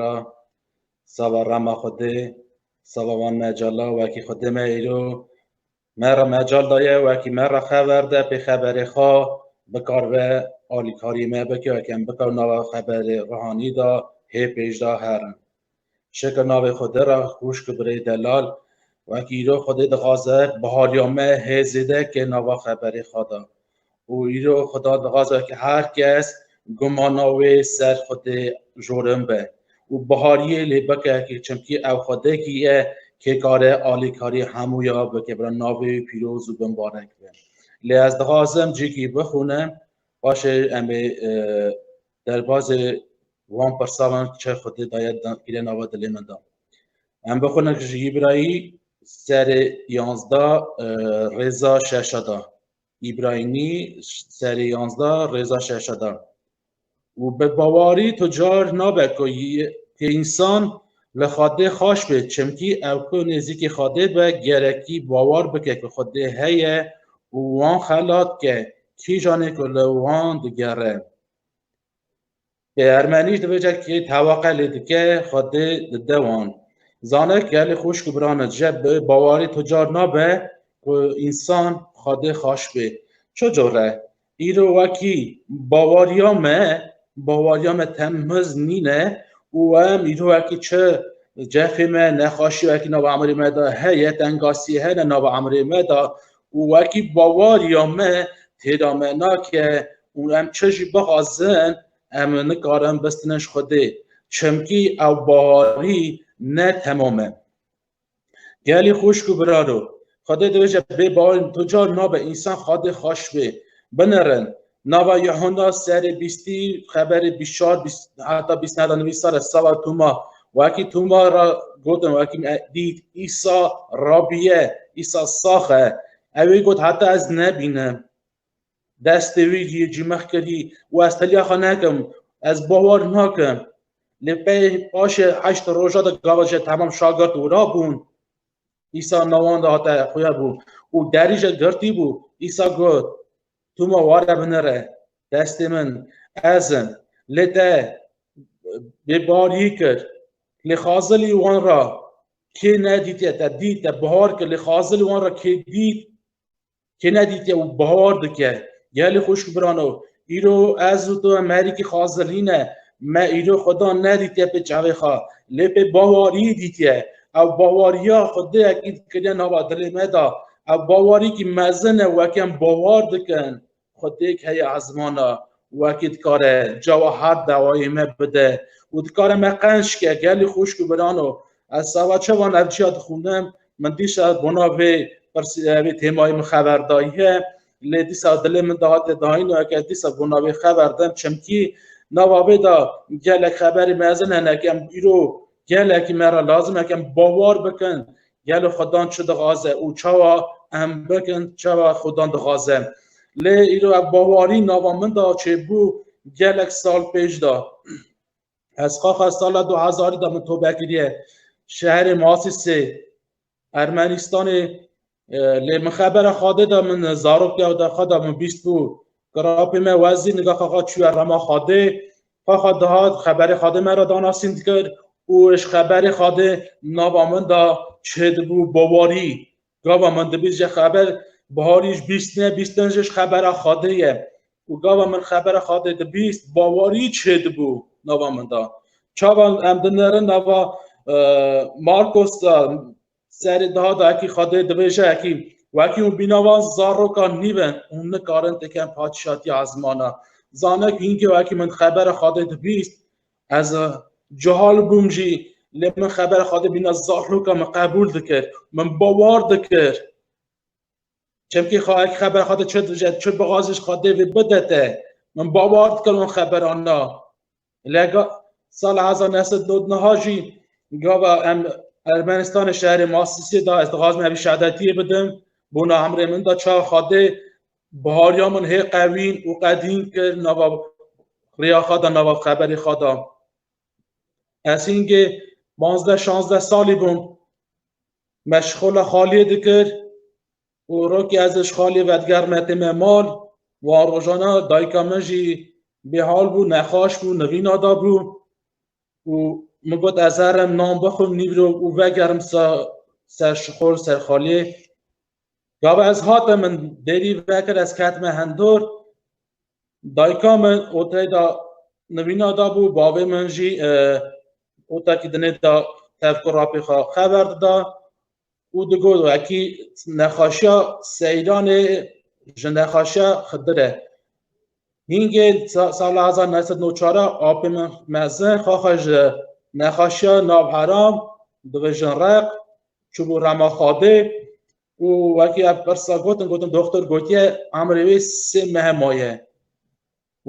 ra sava rama xwedê sava wan me cala wekî xwedê me îro Me re mecal daye wekî me re xeber de pê xeberê xwe bikar ve alîkarî me bike wekî em bika nava xeberê rihanî de hê pêş de herin. Şeke navê xwe de re xwişk birê delal wekî îro xwedê dixwaze bihaliya me hê zêde ke nava xeberê xwe de. û îro xweda dixwaze ke her kes gumana wê ser xwedê jorin be û bihariyê lê bike ke çimkî ew xwedekî ye kê kare alîkarî hemû ya bike bira navê wî pîroz û bimbarek be. Lê ez dixwazim cîkî bixûnim paşê em ê derbazê wan pirsavan çi xwedê daye kîre nava dilê min da. Em bixûnin ji Îbrayî serê yanzda rêza şeşa da. Îbrahîmî serê yanzda rêza şeşe da û bi bawarî tu car nabe ku yê însan li Xwedê xweş bê çimkî ew ku nêzîkî Xwedê be gerekî bawar bike ku Xwedê heye û wan xelat dike kîjanê ku li wan digere. Ê ermenî ji dibêje kê teweqe lê dike xwe dê di dewan. Zane ke lê xwişk û biran e je bi bawarî to car nabe ku însan xwe dê xaş bê. Ço cor e? Îro wekî bawariya me, bawariya me temhiz nîne û em îro wekî çi cefê me, nexaşî wekî nava emirê me de heye, tengasî hene nava emirê me de Û wekî bawariya me têda me nake û em çi jî bixwazin em nikarin bistinin ji Xwedê çimkî ew baharî ne temam e. Gelê xwişk û biraro, Xwedê dibêje bê baharî tu car nabe însan Xwedê xweş bê. Binirin, Nava Yehonda serê bîstî xeberê bîst çar heta bîst neda nivî sere sava Tuma wekî Tuma ra gotin wekî dît Îsa Rabiye Îsa sax e. Ewê got heta ez nebînim. Destê wî jî cîmex kirî û ez teliya xwe nekim ez bawar nakim. Lê pey paşê heşt roja de gava jî temam şagirt û ra bûn. Îsa nawan de hate xuya bû û derî jî girtî bû. Îsa got Tu ma ware binere destê min ezin lê te bê barî kir lê xazilî wan ra kê nedîtiye te dît te bihar kir lê xazilî wan ra kê dît kê nedîtiye û bihar dike gelê xweş birano îro ez û tu em herîkî xazilî ne me îro xweda nedîtiye pê çavê xwe lê pê bawarî dîtiye ew bawariya xwedê ekîd kiriye nava dilê me da Ev bawarîkî mezin e wek em bawar dikin xwe têk heye ezmana wekî dikare cawa her dawayê me bide û dikare me qenc ke gelî xwişk û birano ez sava çavan ev çiya dixwînim min dîsa bona vê vê têmayê min xeber daye lê dîsa dilê min dihate dayîn û eke dîsa bona vê xeber dem çimkî nava vê da gelek xeberî mezin hene kem îro gelekî me ra lazim e kem bawar bikin Gelo Xwedan çi dixwaze û çawa em bikin, çawa Xwedan dixwaze. Lê îro ev bawarî nava min de çêbû gelek sal pêş de. Ez xaxa sala du hezarî de min tobe kiriye şehrê Masîsê Ermenistanê lê min xebera xwedê de min zarokya de xwe de min bîstbû Grapê me wezî niga xaxa çûye rema Xadê. Xaxa dihat xeberê Xadê me ra danasîn dikir û ji xeberê Xadê nava min da çêdibû Bawarî. Gava min dibîst ji xeber Biharî ji bîstine, bîstin ji xebera Xadê ye û gava min xebera Xadê dibîst Bawarî çêdibû nava min da. Çawa em dinerin nava Markos da Serê daha da ekî Xadê dibêje ekî wekî hûn bînavan zarokan nîve hûn nikarin têken padîşatiya ezmana. Zane ku hînkê wekî min xebera Xadê dibîst ez cihal bûm jî lê min xebera Xadê bîna zaroka min qebûl dikir. Min bawar dikir. Çemkî xwe ek xeber xwe çi dije çi bixwaziş xwe dê vê bide te. Min bawer dikir wan xeberan na. Lega sal heza neset dod niha jî gava em Ermenistanê şerê Masisê da ez dixwazim hevî şehadetiyê bidim. Bona emrê min da çawa xwe dê bihariya min hê qewîn û qedîn kir nava rêya xwe da nava xeberê xwe da. Ez hîngê 15-16 salî bûm Me ji xwe ve xaliyê dikir û rokê ez ji xaliyê ve digerime tê me mal wan rojana dayika min jî bêhal bû, nexweş bû, nivîna dabû û min got ez herim nan bixwim nîvro û vegerim ser şixol ser xaliyê. Gava ez hatim min derî vekir ez ketime hindor Dayika min oteyê de nivîna dabû, bavê min jî otekî dinê de tevku rapê xwe xeber dida û digot wekî nexaşiya Seyranê ji nexaşiya Xidir e. Hîngê sala hezar neh sed nû çar e apê min mezin xaxa ji nexaşiya nav heram divijin req çûbû rema xadê Û wekî ev pirsa gotin gotin doktor gotiye emrê wê sê mehe maye.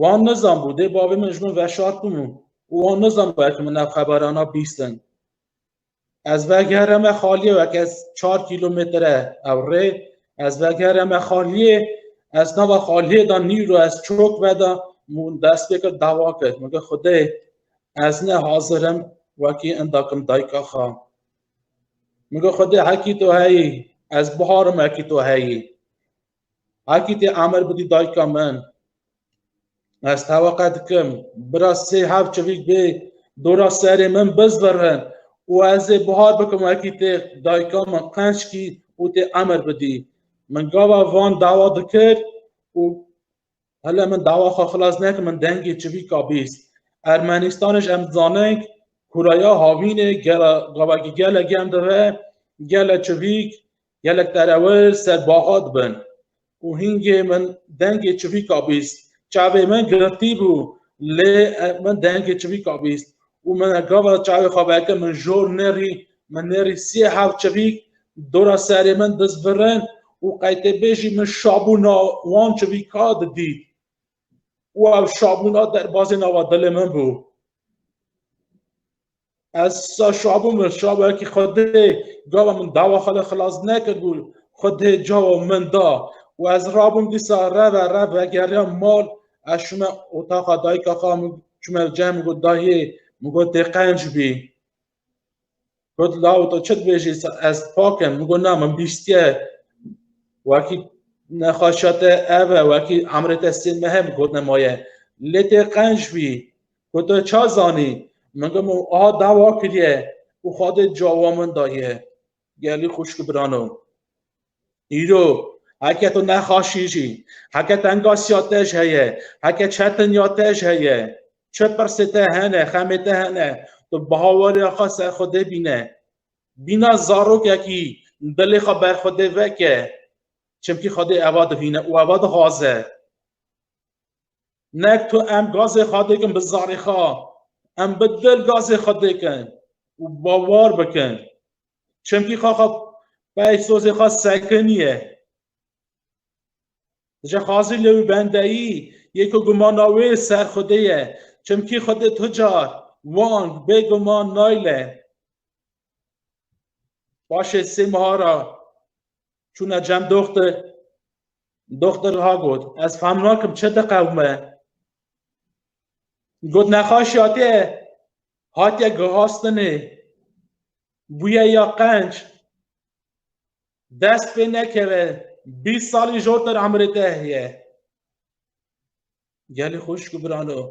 Wan nizanbû dê bavê min ji min veşart bû min û wan nizanbû ev min ev xeberana bîstin. Ez vegereme xaliyê wek ez çar kîlometre ew rê ez vegereme xaliyê ez nava xaliyê da nîro ez çok veda mun dest pê kir dawa kir min xudê ez ne hazirim wekî indakim dayka xwe. Min got Xwedê hekî to heyî, ez biharim hekî to heyî. Hekî tê emir bidî dayika min. Ez teweqe dikim, bira sê hev çivîk bê dora serê min bizvirin û ez ê bihar bikim hekî tê dayika min qençkî û tê emir bidî. Min gava van dawa dikir û Hele min dawa xwe xilas neke min dengê çivîka bîst. Ermenistanê ji em dizanin kuraya havînê gera gavakî gelek yan dive gelek çivîk gelek terewir ser baha dibin. û hîngê min dengê çivîka bîst. Çavê min girtî bû lê min dengê çivîka bîst. û min e gava çavê xwe veke min jor nêrî min nêrî siyê hev çivîk dora serê min diz virin û qeytê bêjî min şabûna wan çivîka didît û ev şabûna derbazê nava dilê min bû ez sa şabû min şabekî xwedê gava min dava xwe li xilas nekir bû xwedê cawa min da û ez rabûm dîsa reve rev vegeriya mal ez şûme otaxa dayika xwe min çumer cem got dayê min got tê qenc bî got law to çi dibêjî ez pakim min got na min bîstiye wekî nexweşa te ev e wekî emrê te sê mehe min got nemaye lê tê qenc bî got tu ça zanî min got min aha dawa kiriye û xwedê cawa min daye Gelî xuşk û birano. Îro heke tu nexaşî jî, heke tengasîya te ji heye, heke çetiniya te ji heye, çi pirsê te hene, xemê te hene, tu baweriya xwe ser Xwedê bîne. Bîna zarokekî dilê xwe ber Xwedê veke. Çimkî Xwedê eva dibîne û eva dixwaze. Nek tu em gazê xwe dikin bi zarê xwe, em bi dil gazê xwe dikin û bawer bikin. Çimkî xwe xwe pey sozê xwe sekiniye. Dije xazî lê wî bendeyî yê ku gumana wê ser xwedê ye. Çimkî xwedê tu car wang bêguman nayle. Paşê sê meha re çûne cem doxtir doxtir ha got ez fam nakim çi diqewme got nexaşî hatiye hatiye gihastinê bûye ya qenc dest pê nekeve bîst salî jortir emirê te heye Gelê xuşk û birano.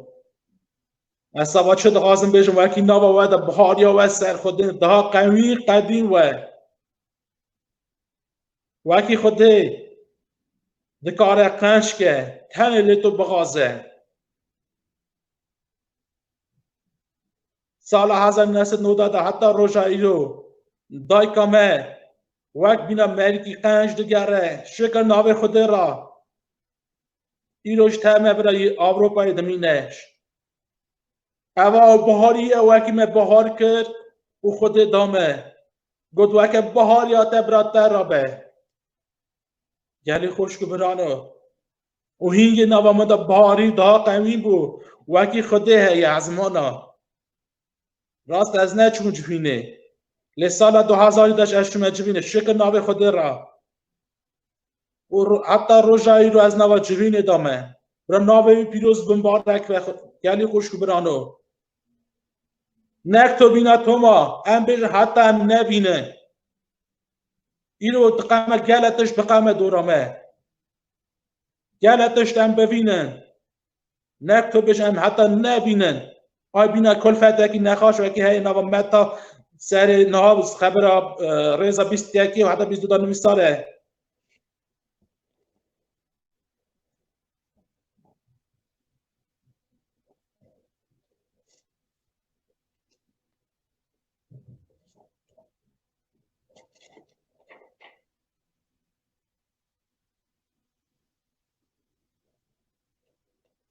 Ez saba çi dixwazim bêjim wekî nava we de bihariya we ser xwedê daha qewî qedîn we. Wekî xwedê dikare qençke tenê lê tu bixaze. Sala hezar nesit noda de heta roja îro dayka me wek bîna merîkî qenç digere şika navê xwedê ra îro ji teme bira yê Ewropayê dimîne. Eva biharî ye wekî me bihar kir û xwedê da me. Got weke bihar ya te bira te ra be. Gelê xweş ku birano. û hîngê nava me de biharî da qewî bû wekî xwedê heye ezmana. Rast ez neçûm civînê. Lê sala du hezar û deş ez çûme civînê şikir navê xwedê ra. û heta roja îro ez nava Cirînê de me. Bira navê wî pîroz bin barek ve gelî xweş û birano. Nek to bîna Toma, em bêjin heta em nebîne. Îro diqeme gele tişt biqeme dora me. Gele tişt em bivînin. Ne tu bêj em heta nebînin. Ay bîna kulfetekî nexaş wekî heye nava meta serê niha xebira e, rêza bîst yekî û heta bîst du da nivî sal e.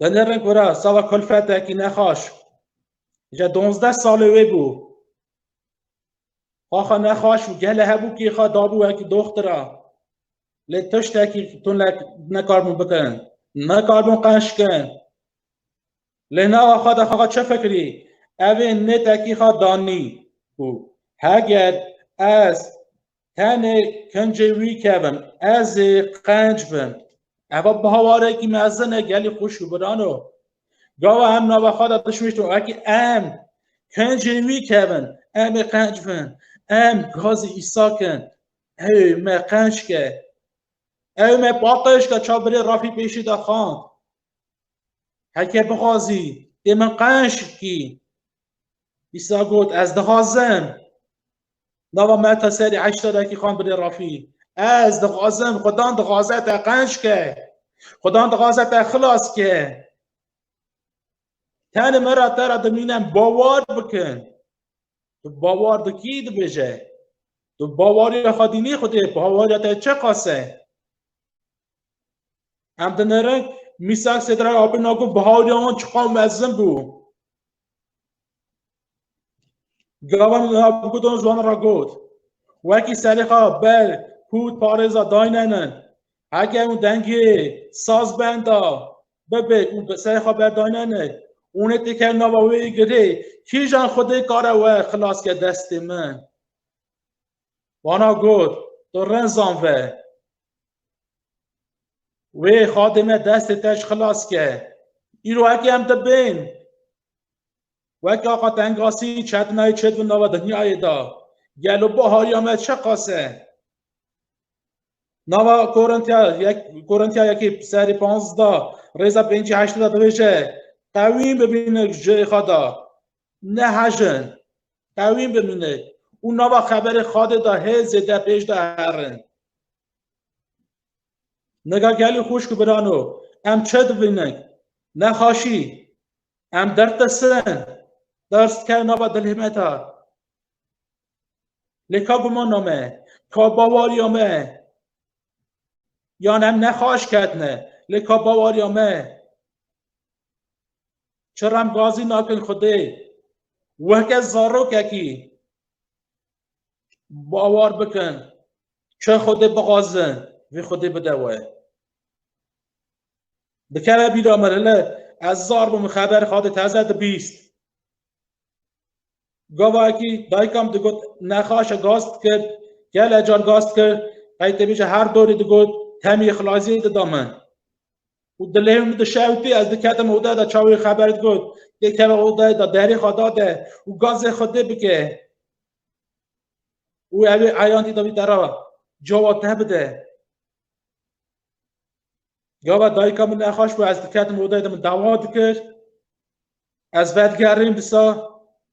Denerê gora sava kulfetekî nexaş. Ji donzdeh salê wê bû. Xaxa nexaş û gelê hebûkî xwe dabû wekî doxtira. Lê tiştekî tunek nekaribûn bikin. Nekaribûn qenc bikin. Lê nava xwe de xaxa çi fikirî? Evê nêtekî xwe danî û heger ez Tenê kincê wî kevin, ez ê qenc bin. Eva bi hawarekî mezin e, gelî xweş û biran o. Gawa em nava xwe de dişmiştin wekî em kincê wî kevin, em ê qenc bin, em gazê Îsakin, ew ê me qenc ke. Ew me paqij ke çavbirê rafî pêşî de xand. Heke bixwazî dê min qenc kî, Îsa got, Ez dixwazim. Nava me ta serê heşta deqîqan birê rafî. Ez dixwazim, Xudan dixwaze te qenc ke. Xudan dixwaze te xilas ke. Tenê me ra te ra dimînin bawar bikin. Tu bawar dikî dibêje. Tu bawariya xwe dînî Xwedê, bawariya te çiqas e. Em dinêrin mîsak sêdra abin nago bihawriya wan çiqa mezin bû. Gavan gudan zwan ra got. Wekî serêxa ber hût parêza daynenin. Heke û dengê saz benda bibê û serêxa ber daynenê. Ûnê têker nava wê girê kîjan xwedê kare we xilas ke destê min. Wana got, tu rezan ve. Wê xadê me destê te ji xilas ke. Îro eke em dibên. Weke axa tengasî çetinayê çêt bi nava dinyayê da. Gelo bahariya me çeqas e. Nava Korintiya yek Korintiya yekê serê panzda rêza pêncî heştê da dibêje qewîm bibîne ji xada. Nehejin, qewîm bin hûn ê û nava xeberê Xadê de hê zêde pêş de herin. Nega gelî xwişk û birano, em çi dibînin? Ne xaşî. Em derd disin. Ders dikeve nava dilê me de. Lê ka gumana me, ka bawariya me, yan em nexaş ketine, lê ka bawariya me, Çi remgazî nakin xwedê? Weke zarokekî bawar bikin. Çi xwedê bixwazin, vê xwedê bide we. Dikeve bîra min, hele ez zar bûm xeber xwedê teze dibîst. Gavayekî dayika min digot nexaşe gaz dikir, gele car gaz dikir, qey tê bêje her dorê digot temî xilaziyê dida min. û dilê min dişewtî ez diketim oda da çawê xeber digot dê keve odayê da derê xwe dade û gazê xwe dê bike û ew ê eyan dî da wî te ra cava te bide. Gava dayika min nexweş bû ez diketim odayê de min dawa dikir. Ez vedigerîm disa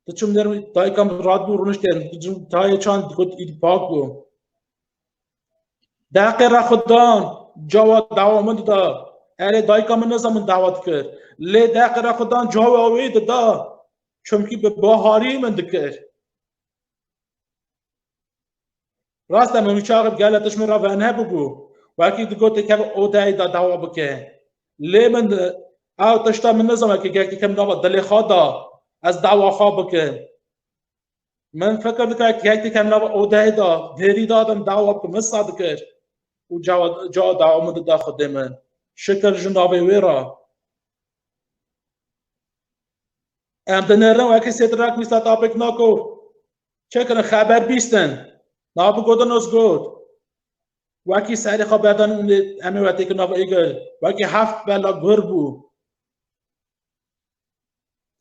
diçim der dayika min rat bû rûniştên dicim tayê çan dikut îd pak bû. Deqê re xwe dan cawa dawa min dida. Erê dayika min neza min dawa dikir. Lê deqê re xwe dan cawa wê dida. Çimkî bi baharî min dikir. Rast e Memî Çaxi bi gelek tişt min re vane bûbû. Wekî digot tê keve odeyê de dawa bike. Lê min ew tişta min nizana ke gelekî ke min dava dilê xwe da ez dawa xwe bikim. Min fikir dikir ke gelekî ke min dava odeyê de dêrî de min dawa bikim min sa dikir û cawa dawa min dida xwedê min. Şikir ji navê wê re. Em dinêrin wekî sêtir re ku wî setapêk nako. Çekirin xeber bîstin. Nabu Godonos got, Wekî serê xwe berdan û em ê wetêkin nav Êgir, wekî heft bela gur bû.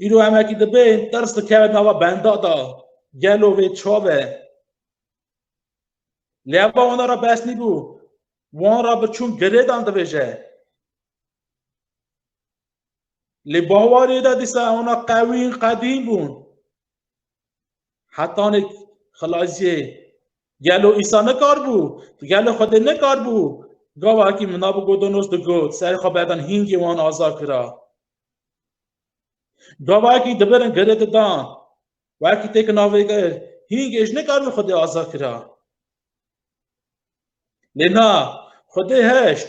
Îro em wekî dibên tirs dikeve nava benda da, gelo vê çav e. Lê ev ba wana ra bes nîbû, wan ra bi çûn girêdan dibêje. Lê bawarê de dîsa wana qewî qedîm bûn. Hetanê xilaziyê gelo îsa nekar bû, gelo Xwedê nekar bû, gavakî min nabû godonos digot, serê xwe berdan hîngê wan aza kira. Gavakî dibirin girê didan, wekî têk navê gir, hîngê ji nekar bû Xwedê aza kira. Lê na, Xwedê heşt,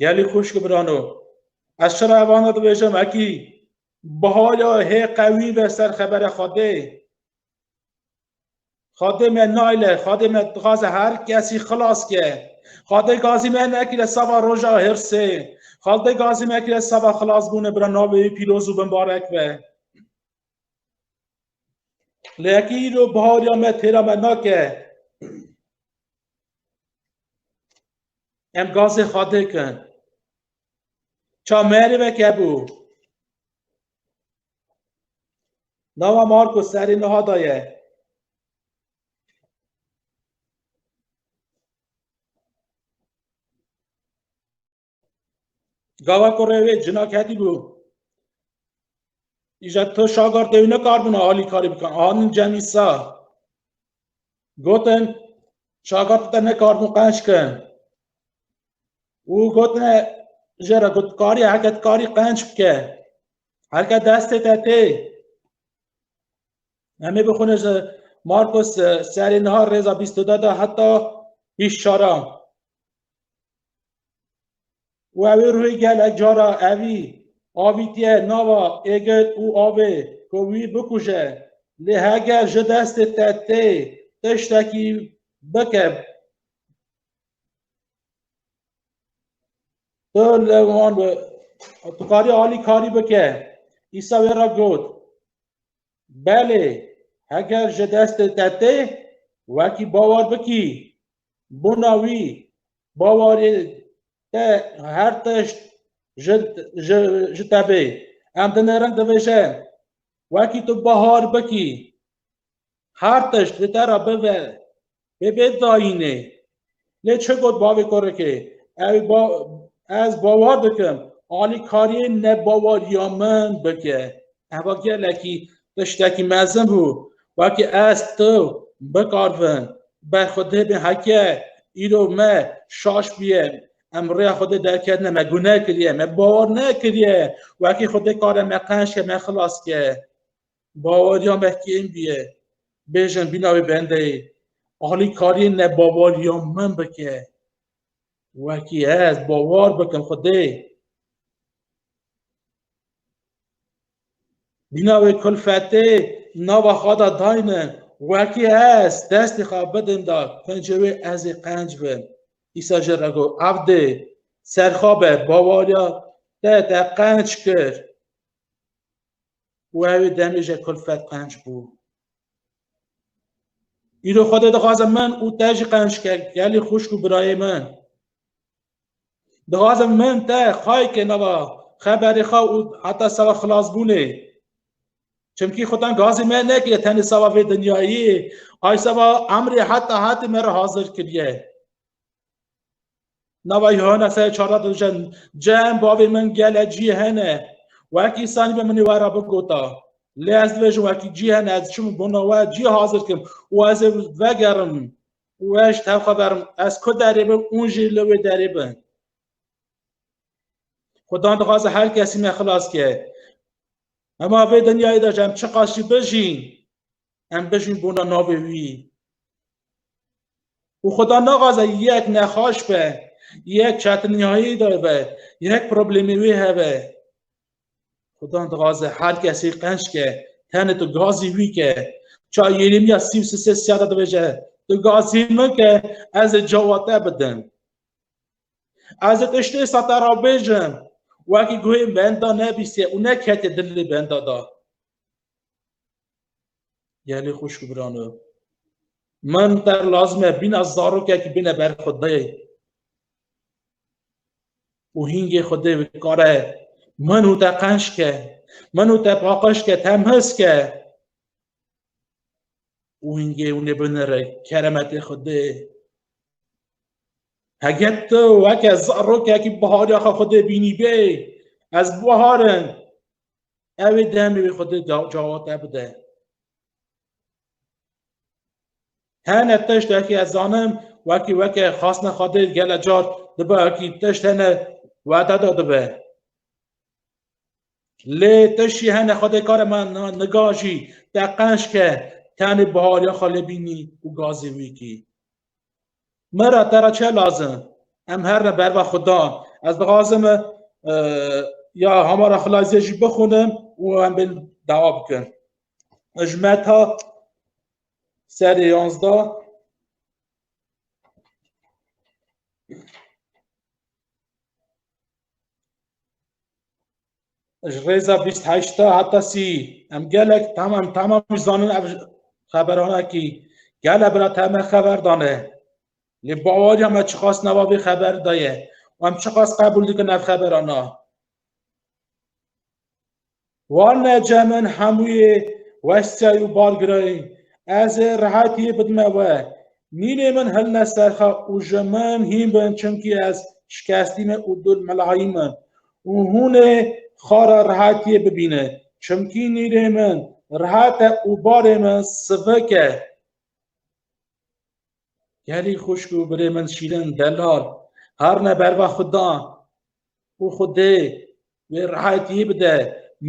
Gelî xuşk birano. Ez çira evana dibêjim ekî bihaya hê qewî ve ser xebere Xwedê. Xwedê me nayle, Xwedê me dixwaze her kesî xilas ke. Xwedê gazî me nekire seba roja hirsê. Xwedê gazî me kire seba xilasbûne bira navê wî pîroz û bimbarek be. Lê ekî îro bihariya me têra me nake. Em gazê xwe dikin. Ça merê veke bû. Nava Marko serê niha da ye. Gava ku rê wê cina ketî bû. Îja tu şagar tê wî nekarbûna alî karî bikin. Anin cemî sa. Gotin şagar te nekarbûn qenç kin. û gotine ji re got karî heket karî qenç bike. Heke destê te tê. Em ê bixwîne ji Markus serê niha rêza bîst û de de heta hîş şara. û ew ê ruhê gelek cara evî avîtiye nava êgir û avê ku wî bikuje. Lê heger ji destê te tê tiştekî bike tu li wan tu karî alî karî bike. Îsa wê re got, Belê, heger ji destê te tê, wekî bawer bikî, Bona wî bawarî te her tişt ji te bê. Em dinêrin dibêje wekî tu bahar bikî her tişt li te re bibe bê bê dayînê. Lê çi got bavê kurikê? Ew ez bawer dikim alîkariyê nebawarîya min bike. Heva gelekî tiştekî mezin bû. Wekî ez tu bikarvin ber xwe dibê heke îro me şaş bûye em rêya xwe dê derketine me gune kiriye me bawar nekiriye wekî xwe dê kare me qenc ke me xilas ke bawariya me kêm bûye bêjin bîna wê bendeyê alî kariyê ne bawariya min bike wekî ez bawar bikim xwe dê Mîna wê kulfetê nava xwe de dayne, wekî ez destê xwe bidim da kincê wê ez ê qenc bim. Îsa ji re got, Evdê, serxwe be, bawariya te te qenc kir. Wê wê demê ji kulfet qenc bû. Îro Xwedê dixwazim min û te jî qenc ke, gelê xwişk û birayê min. Dixwazim min te xayke nava xeberê xwe û heta seba xilasbûnê. Çimkî xudan gazê me nekiriye tenê seba vê dinyayê, ay seba emrê heta hetê me re hazir kiriye. Nava Yuhana serê çardeh de dijin, Cem bavê min gele cî hene, wekî sanî be minê we re bigota. Lê ez dibêjim wekî cî hene, ez çim bona we cî hazir kim û ez ê vegerim. Weş tev xwe berim. Ez ku derê bim û jî li wê derê bin. Xudan dixwaze her kesî me xilas ke. Hema vê dinyayê de ji em çiqas jî bijîn, em bijîn bona navê wî. Û Xudan naxwaze yek nexweş be, yek çetiniyayî de be, yek problemê wê hebe. Xudan dixwaze her kesî qenç ke tenê tu gazî wî ke ça Yeremîya sî û sisê siya de dibêje tu gazî min ke ez ê cawa te bidim. Ez ê tiştê êsa te ra bêjim wekî guhê benda nebîstî û neketê dilê benda da. Gelê xweş û birano. Min per lazim e bîna zarokekî bîne ber xwedê û hîngê xwedê bikare min û te qenç ke, min û te paqij ke, temhiz ke û hîngê hûnê binire keremetê xwedê. Heget tu weke zarokekî bihariya xwe xwedê bînîbê, ez biharin Ew ê demê wê xwe dê cawat te bide. Hene tiştekî ez zanim wekî weke xasne xwe dê gele car dibe wekî tişt hene we te de dibe. Lê tişî hene xwe dê kare me nigajî te qençke tenê bihariya xwe lê bînî û gazê wî kî. Me re te re çi lazim? Em her ne berva xwe dan. Ez dixwazim e, ya hamara xilaziyê jî bixwînim û em bên dewa bikin. Ji meta serê yanzda ji rêza bîst heşta heta sî em gelek tamam tamam zanin ev xeberanekî gele bira te me xeber dane lê bawariya me çiqas nava vê xeber daye û em çiqas qebûl dikin ev xeberana wan me cemin hemûyê westiyay û bargirayê ez ê rehetiyê bidime we nînê min hilne serxa û ji min hîn bin çimkî ez şikestîme û dul milahayî min Û hûn ê xara rehatiyê bibîne. Çimkî nîrê min rehat e û barê min sivik e. Gelî xwişk û birê min şîrin delal her ne berva xwe da û Xwedê wê rehatiyê bide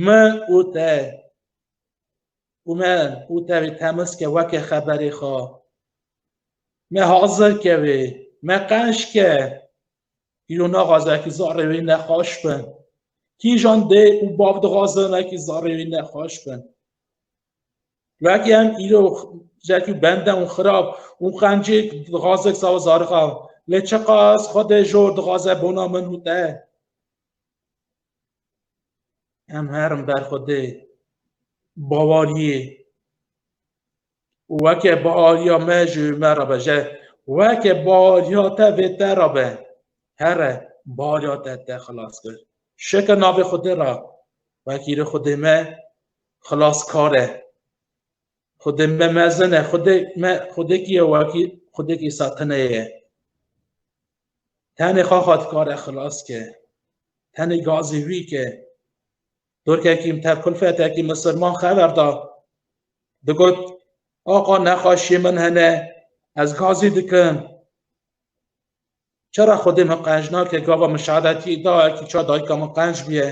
min û te û min û te wê temiz ke weke xeberê xwe me hazir ke wê me qenc ke Îro naxwaze ki zarê wî nexweş be. Kîjan dê û bav dixwazin ki zarê wî nexweş be. Wekî em îro jekî bende û xirab û qencêk dixwaze sawa zarixa lê çiqas xwedê jor dixwaze bona min û te. Em herin ber xwedê bawariyê Weke bariya me ji me re be je weke bariya te vê te re be here bariya te te xilas kir şeke navê xudê re wekîrê xudê me xilas kar e xudê me mezin e xudê me xudêkî ye wekî xudêkî satine ye tenê xaxat kare xilas ke tenê gazê wî ke Turkekî te kulfetekî misirman xeber da. Digot, axa nexweşiyê min hene, ez gazî dikim. Çira xwedê min qenc nake gava min şehadetiyê dayekî çar dayika min qenc bûye.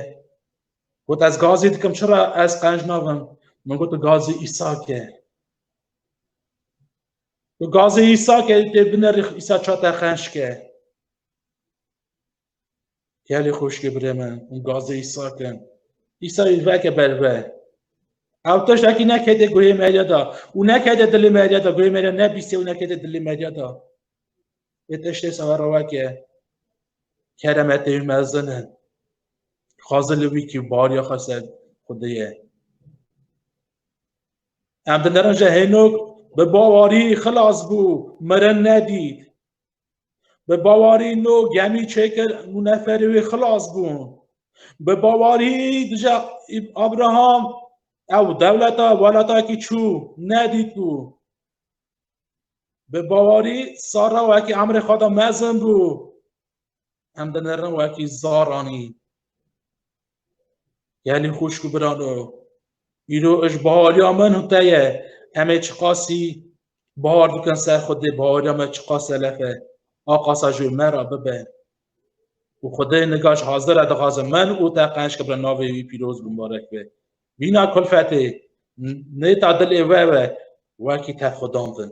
Got ez gazî dikim çira ez qenc nabim. Min got gazî îsake. Gazî îsake tê binerî îsa çate qenc ke. Gelê xoşkê birê me û gazê îsake. Îsa wî veke berve. Ew teş ekî nekede guhê Merya da û nekede dilê Merya da guhê Merya nebîsê û nekede dilê Merya da. Ê teştê sava reweke keremetê wî mezin e. Xwaze li wî kî bariya xwe ser xwedê ye. Em dinerin ji hênok bi bawarî xilas bû, mirin nedît. Bi bawarî no gemî çêkir nû neferê wê xilas bûn. Bi bawarî dije Abraham ew dewleta welatakî çû nedît bû. Bi bawarî Sara wekî emrê xwe de mezin bû. Em dinirin wekî zaranî. Gelê xuşk û birano îro ji bahariya min û te ye em ê çiqasî bahar dikin ser xwedê bahariya me çiqas selef e a qasa ji me re bibe û xwedê nika ji hazir re dixwazim min û te qenc kibrin navê wî pîroz bi marek be vîna kulfetê nê ta dilê we we wekî te xwedandin